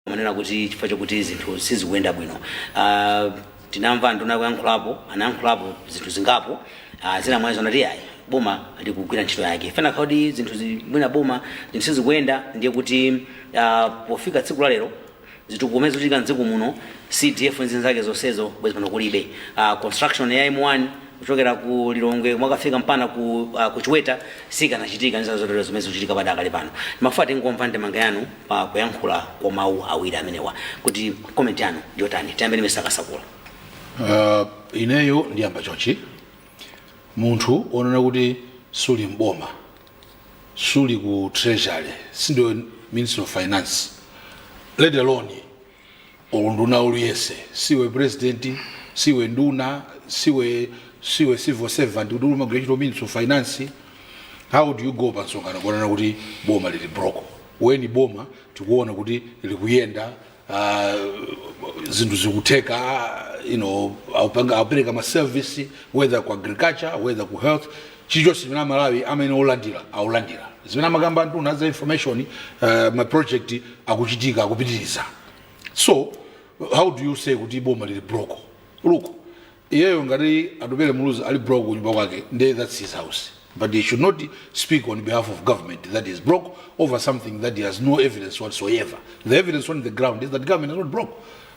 Amanena kuti chifukwa chokuti zinthu sizikuyenda bwino. Uh, tinamva anduna akuyankhulapo, anayankhulapo zinthu zingapo. Uh, zina mwazo anati yayi boma likugwira ntchito yake. Ifeyo kuti zinthu mwina boma zinthu sizikuyenda ndiye kuti uh, pofika tsiku la lero zitukuko zimene zikuchitika mdziko muno CDF nzinzake zonsezo bwezi pano kulibe. Uh, construction ya M1 kuchokera ku lilongwe kumakafika mpaka ku, uh, ku chiweta sikanachitika ndi zazotero zimene zikuchitika padakali pano timafuna tingomva ndemanga yanu pa kuyankhula kwa mawu awiri amenewa kuti comment yanu ndiyotani tiyambe ndi Mr Kasakula Uh, ineyo ndiyamba chonchi munthu onena kuti suli mboma suli ku treasury sindiwe minister of finance let alone nduna iliyonse siwe president siwe nduna siwe siwe civil servant kuti umagwira ntchito ministry of finance how do you go pa msonkhano kukanena kuti boma lili broke when boma tikuona kuti likuyenda ah, zinthu zikutheka ah, you know aupanga- aupereka ma service whether ku agriculture whether ku health chilichonse chimene amalawi amayenera kulandila akulandila. zimene amakamba anduna aza information ma project akuchitika akupitiliza so how do you say kuti boma lili broke look iyeyo ngati atupele muluzi ali broke kunyumba kwake nde thats his house but he should not speak on behalf of government that is broke over something that he has no evidence whatsoever the evidence on the ground is that government is not broke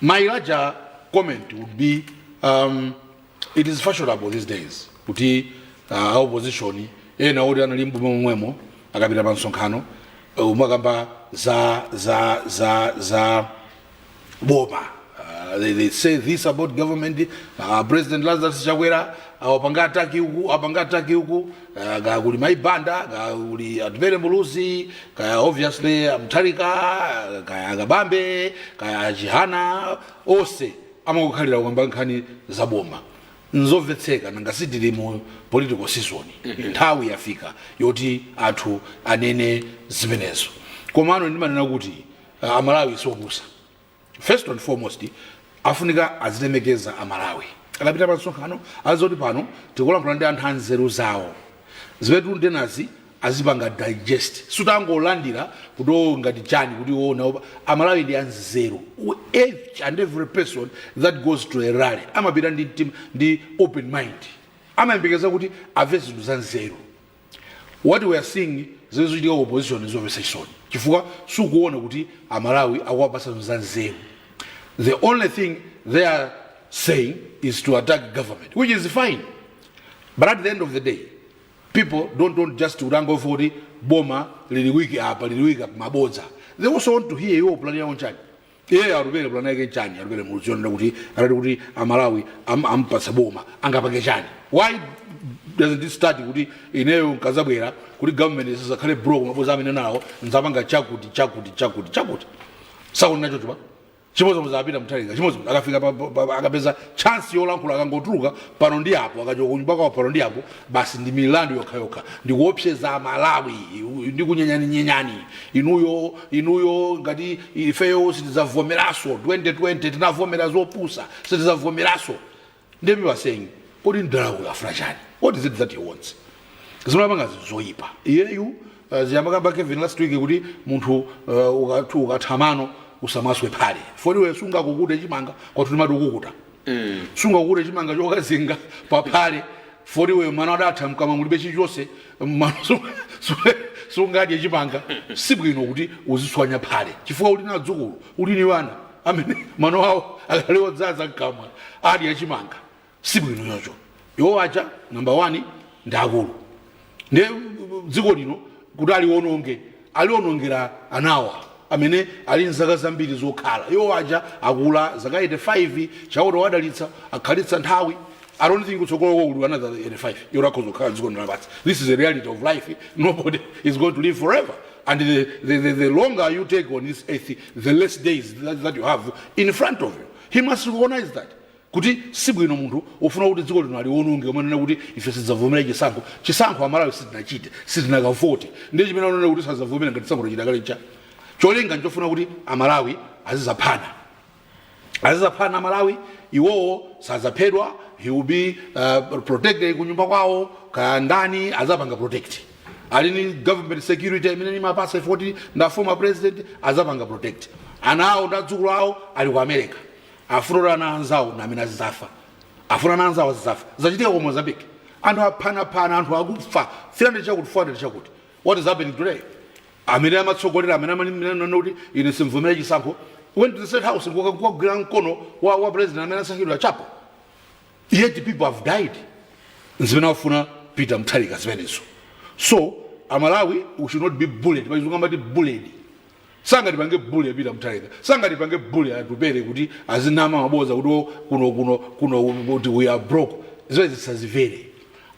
My larger comment would be um, it is fashionable these days kuti uh, opposition ena oti anali mboma momwemo akapita pa msonkhano uh, kumakamba za za za za boma uh, they, they say this about government uh, president lazarus chakwera awapanga attack uku apanga attack uku kaya kaya kuli mai banda kaya kuli atupele muluzi kaya obviously amutharika kaya akabambe kaya achihana onse amangokhalira kukamba nkhani za boma nzomvetsetseka nanga sitili mu political season nthawi yafika yoti anthu anene zimenezo komano ndimanena kuti ah, amalawi siopusa first and foremost afunika azilemekeza amalawi akapita pa msonkhano aziti pano tikulankhula ndi anthu anzeru zawo zimene ndinenezi azipanga digest samangolandira kuti o ngati chani kuti ona opa amalawi ndi anzeru We- each and every person that goes to a rally amapita ndi, mtima- ndi open mind amayembekeza kuti amve zinthu za nzeru What we are seeing zimene zikuchitika ku opposition ndi zomvetsa chisoni chifukwa sukuona kuti amalawi akuwapatsa zinthu za nzeru the only thing they are saying is to attack government which is fine but at the end of the day people don't want just to rango for the boma lili weak apa lili weak apa mabodza they also want to hear iwo plan yawo nchani iye atupele pulani yake chani atupele muziona kuti atati kuti amalawi am- ampatsa boma angapange chani why doesn't it start kuti ineyo nkazabwera kuti government isakhale broke mabodza amene nawo nzapanga chakuti chakuti chakuti chakuti sakuti nacho chipa chimodzimodzi a peter mutharika chimodzimodzi akafika pa- pa- pa- akapeza chansi yolankhula akangotuluka pano ndi apo akachoka kunyumba kwawo pano ndi apo basi ndi milandu yokhayokha ndikuopseza amalawi ndi kunyenyaninyenyani inuyo inuyo ngati ifeyo sitidzavomeraso 2020 tinavomera zopusa sitidzavomeraso nde people are saying kodi mdala uyu afuna chani what is it that he wants zimene apanga zinthu zoyipa iyeyu uh, zija amakamba kevin last week kuti munthu uh, ukathu ukatha mano usamaswe phale poti iwe sungakukute chimanga kwathu timati ukukuta sungakukute chimanga chokazinga paphale poti iwe mano adatha mkamwa mulibe chilichonse mano su- su- sungadye chimanga sibwino kuti uziswanya phale chifukwa uli na adzukulu uli ni wana amene mano awo akali odzaza mkamwa adye chimanga sibwino choncho iwo aja namba 1 ndi akulu nde dziko lino kuti aliwononge aliwonongera anawa amene ali nzaka zambiri zokhala iwo aja akula zaka 85 chauta wadalitsa akhalitsa nthawi I don't think kutsogolo kwawo kuli another 85 yoti akhoza kukhala dziko lino lapansi this is the reality of life nobody is going to live forever and the, the, the, the longer you take on this earth the less days that, that you have in front of you he must recognize that kuti sibwino munthu ofuna kuti dziko lino aliwononge kumanena kuti ife sidzavomera chisankho chisankho amalawi sitinachite sitinakavote ndiye chimene ananena kuti sadzavomera ngati chisankho tachita kale cha cholinga nchofuna kuti amalawi azizaphana azizaphana amalawi iwowo sadzaphedwa he will be uh, protected kunyumba kwawo kaya ndani azapanga protect ali ni government security imene timawapasa poti na former president azapanga protect ana awo ndi adzukulu awo ali ku america afuna ana anzawo namene azizafa afuna ana anzawo azizafa zachitika ku mozambique anthu aphanaphana anthu akufa 300 chakuti 400 chakuti what is happening today amene amatsogolera amene amanena kuti ine simvomera chisankho went to the state house kukagwira mkono wa, wa president amene asankhidwa chapo yet people have died zimene afuna peter mutharika zimenezo so amalawi we should not be bullied pachizungu amati bullied Sangatipange bully a Peter Mutharika, sangatipange bully a Atupele kuti azinama maboza kuti wo kuno kuno kuno kuti we are broke. Zimenezi tisazilole.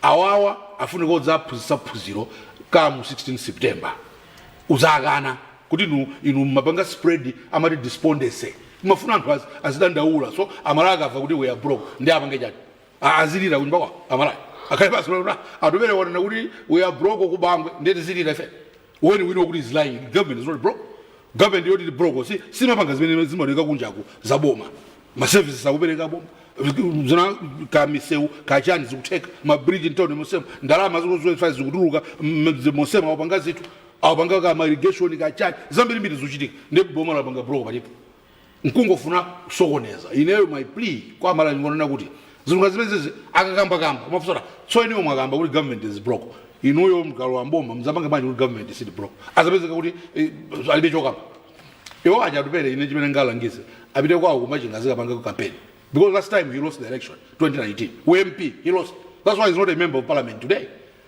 Awawa afunika odzaphunzitsa phunziro come 16 September. Udzakana kuti inu inu mmapanga spread amati despondency. Mmafuna anthu az, azidandaula so aMalawi akamva kuti we are broke ndi apange chani. Ah, azilira kunyumba kwao aMalawi akhale basi onani Atupele wanena kuti we are broke ku banki ndiye tizilira ife when we know kuti he's lying government is not broke government yoti ndi broke si simapanga zimene zimaoneka kunjaku za boma ma services akupereka boma zina ka misewu kachani zikutheka ma bridge in town mu Treasury ndalama zikuzofa zikutuluka m- mosema akupanga zinthu akupanga ka ma irrigation kachani zambirimbiri zikuchitika ndi boma lapanga broke palipo nkungofuna kusokoneza ineyo my plea kwa aMalawi ndingonena kuti zinthu ngati zimenezi akakambakamba umafunsa kuti so ineyo mwakamba kuti government is broke inuyo mukalowa mboma mzapange bwanji kuti government sili broke azapezeka kuti eh, alibe chokamba iwo aja Atupele ine chimene ndingalangize apite kwawo ku Machinga azikapanga campaign because last time he lost the election 2019 u-MP he lost that's why he's not a member of parliament today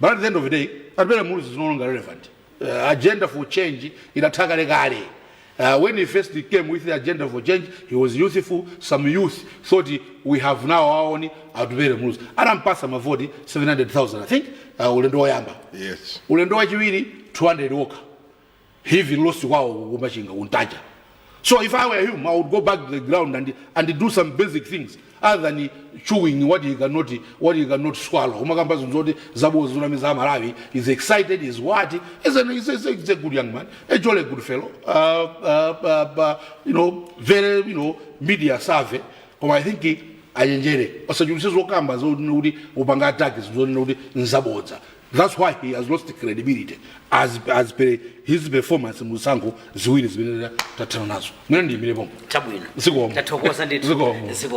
But at the end of the day, Atupele Muluzi is no longer relevant. Uh, agenda for change inatha kale kale. Uh, when he first came with the agenda for change, he was youthful. Some youth thought he- we have now our own Atupele Muluzi. Anampasa mavoti 700,000, I think, uh, ulendo woyamba. Yes. Ulendo wachiwiri 200 wokha. He even lost kwawo ku Machinga ku Ntaja. So if I were him, I would go back to the ground and, and do some basic things other than chewing what he cannot, what he cannot swallow. Umakamba zinthu zoti zaboza zonamiza Malawi. He's excited, he's what? He's, an, he's, a, he's a good young man, a jolly good fellow. Uh, uh, uh, uh, you know, very, you know, media savvy. Koma I think he, ayenjere osachulise zokamba zonena kuti upanga ataki zonena kuti nzabodza That's why he has lost credibility as, as per his performance mu zisankho ziwiri zimene tathana nazo. Mwina ndiyimire pomwe. Chabwino. Zikomo. Tathokoza ndithu. Zikomo. Zikomo.